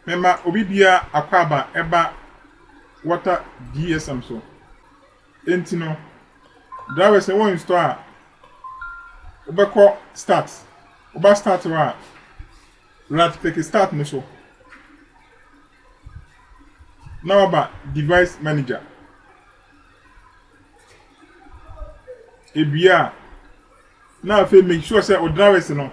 Mema obi biara akwaaba ɛba water GSM so. Enti no, drivers sɛ wo install a, wobɛkɔ start. Woba start hɔ a, right click start no so. Na waba device manager. Ewie a, na afei make sure sɛ o drivers no,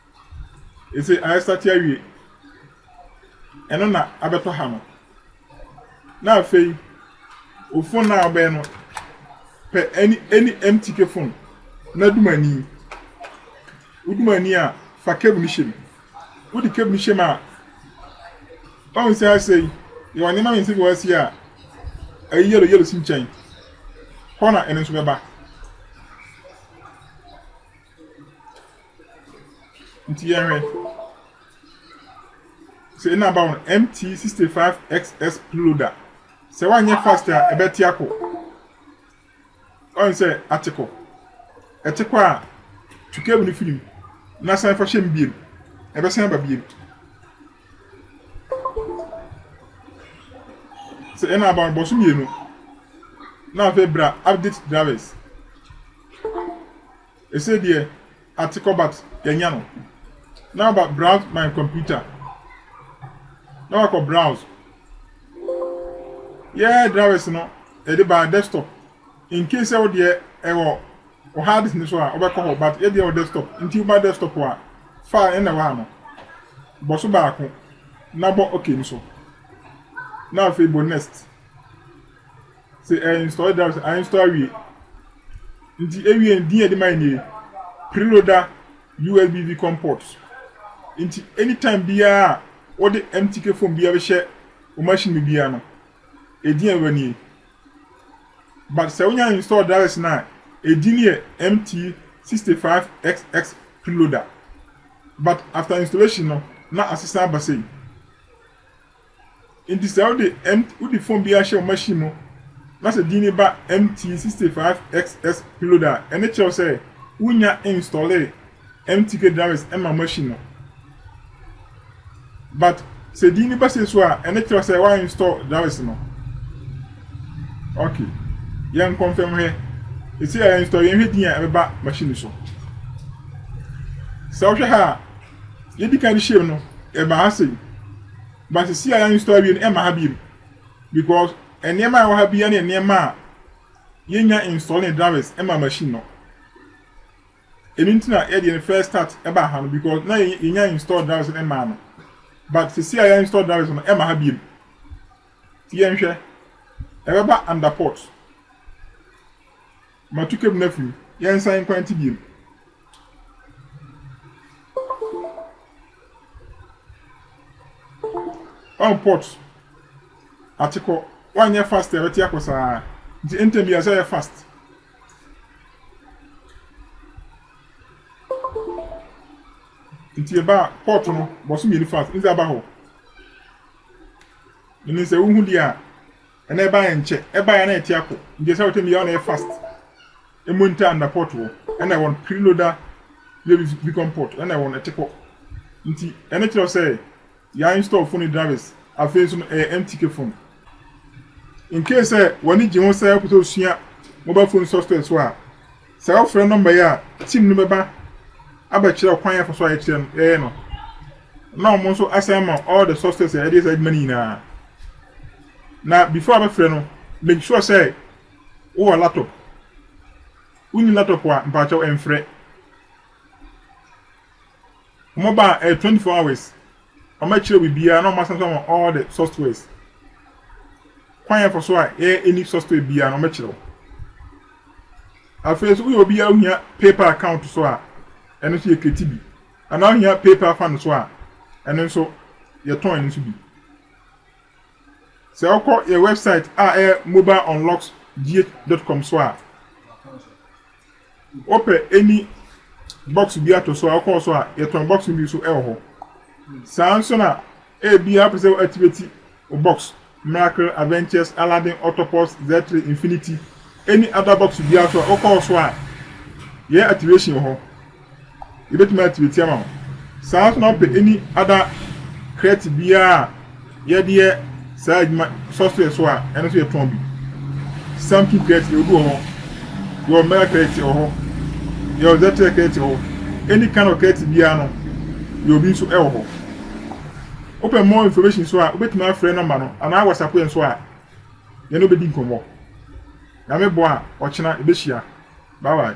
Ese aestate awie. Ɛno na abɛtɔ ha no. Na afei, wo phone no a wobɛyɛ no, pɛ any, any empty ke phone na dum ani. Wodum ani a, fa cable no hyem. Wode cable no hyem a, ɔhu sɛ asei, yɛwɔ nneɛma mmiɛnsa bi wɔ asei a, ɛyɛ yellow, yellow si nkyɛn. Hɔ na ɛno nso bɛba. Nti yɛnhwɛ. Sɛ ɛna aba wɔn MT65XS preloader. Sɛ wanyɛ fast a ɛbɛte akɔ. Ɔn sɛ ate kɔ. Ɛte kɔ a tu cable no firi mu na san fa hyɛ mu biem. Ɛbɛsan aba biem. Sɛ ɛna aba wɔn bɔ so mmienu na afei bra update drivers. Ɛsei deɛ ate kɔ but yɛanya no. Now aba browse my computer. Na wakɔ browse. Yɛɛ drivers no yɛde baa desktop. In case sɛ wo deɛ ɛwɔ wɔ hard disk no so a wobɛkɔ hɔ but yɛ deɛ wɔ desktop. Nti woba desktop a file no na ɛwɔ ano. Bɔ so baako na bɔ okay no so. Na afei bɔ next. Sɛ ɛɛ nsɔre da sɛ ansɔ awie. Nti ewie no din yɛ de ma nie. Preloader USB VCOM port. Nti anytime biara a wode MTK phone biara bɛhyɛ wo machine mu biara no, edin a ɛbɛba nie. But sɛ wonya install drivers no a, edin no yɛ MT65XX Preloader. But after installation no, na asesan aba sei. Enti sɛ wode mt wode fon bi ahyɛ wo machine mu na sɛ din no ba MT65XS Preload a, ɛno kyerɛw sɛ wunnya installe MTK drivers ɛmma machine no. But sɛ din no ba sei so a, ɛno kyerɛw sɛ wa install drivers no. Okay. Yɛn confirm hwɛ. Ɛsɛ yɛ install yɛn hwɛ din a ɛbɛba machine no so. Sɛ wohwɛ ha a, yɛdi kan hyiam no ɛma ha sei but sisi a yɛn install awie no ɛma ha biem because nneɛma a ɛwɔ ha bia ne nneɛma a yɛnya install ne drivers ɛma machine no ɛno nti na yɛde yɛn first start ɛba ha no because na yɛnya install drivers no ɛma no but sisi a yɛn install drivers no ɛma ha biem ti yɛnhwɛ ɛbɛba under port Ma tu kɛm na fim, yɛnsan nkwante biom. Ɔn pot ate kɔ, wanyɛ fast a ɛbɛte akɔ saa. Nti ntɛm yi ɛsɛ ɔyɛ fast. Nti ɛba a pot no bɔso mmienu fast, ndze aba hɔ. Menim sɛ wohu deɛ a. Ɛna ɛbaeɛ nkyɛ ɛbaeɛ na ɛte akɔ nti ɛsɛ wɔtɛm yɛ ɔna yɛ fast ɛmu ntaa nda pot wɔ ɛna ɛwɔn piri no da yɛ bikɔn pot ɛna ɛwɔn ɛte kɔ nti ɛne kyerɛ sɛ yɛ install phone drivers afei nso no ɛyɛ MTK phone in case sɛ wɔne gye ho sɛ ɛpɛ sɛ osua mobile phone software so a Sɛ wofrɛ nɔmba yi a, tim no bɛba abɛkyerɛ kwan a ɛfa so a yɛyɛ no, na wɔn nso asan ama all the sources a yɛde yɛ saa adwuma no nyinaa. Na before abɛfrɛ no, make sure sɛ wowɔ laptop. Wonni laptop a, mpakyɛw mfrɛ. Wɔn ba ɛyɛ twenty four hours. Wɔn akyerɛ biribiara na wɔn asan so wɔn all the softwares. Kwan yɛn fa so a yɛyɛ any software biara na wɔn akyerɛ wo. Afei nso woyɛ obi a ohia PayPal account so a ɛno nso yɛ create bi. Anaa ohia PayPal fan so a ɛno nso yɛtɔn ɛno nso bi. Sɛ wokɔ yɛ website a ɛyɛ mobileunlocks.gh.com so a Wopɛ any box bi ato so a wokɔɔ so a yɛtɔn box no bi so ɛwɔ hɔ. Saa nso na ebia wopɛ sɛ activate wo box Miracle, Adventures, Aladdin, Octopus, Z3, Infinity, any other box biara so a wokɔɔ so a yɛ activation wɔ hɔ. Yɛbɛtumi atiatia ama wo. Saa ara nso na wopɛ any other crate biara a yɛde yɛ saa adwuma software so a, ɛno nso yɛtɔn bi. Samsung crate yɛwɔ bi wɔ hɔ, yɛwɔ Mega crate wɔ hɔ, yɛwɔ Zetel crate wɔ hɔ, any kind of crate biara no yɛwɔ bi nso wɔ hɔ. Wopɛ more information nso a, wobɛtumi afrɛ nɔmba no anaa WhatsApp yɛn nso a, yɛne wobɛdi nkɔmmɔ. Nyame boa a, ɔkyena yɛbɛhyia. Bye bye.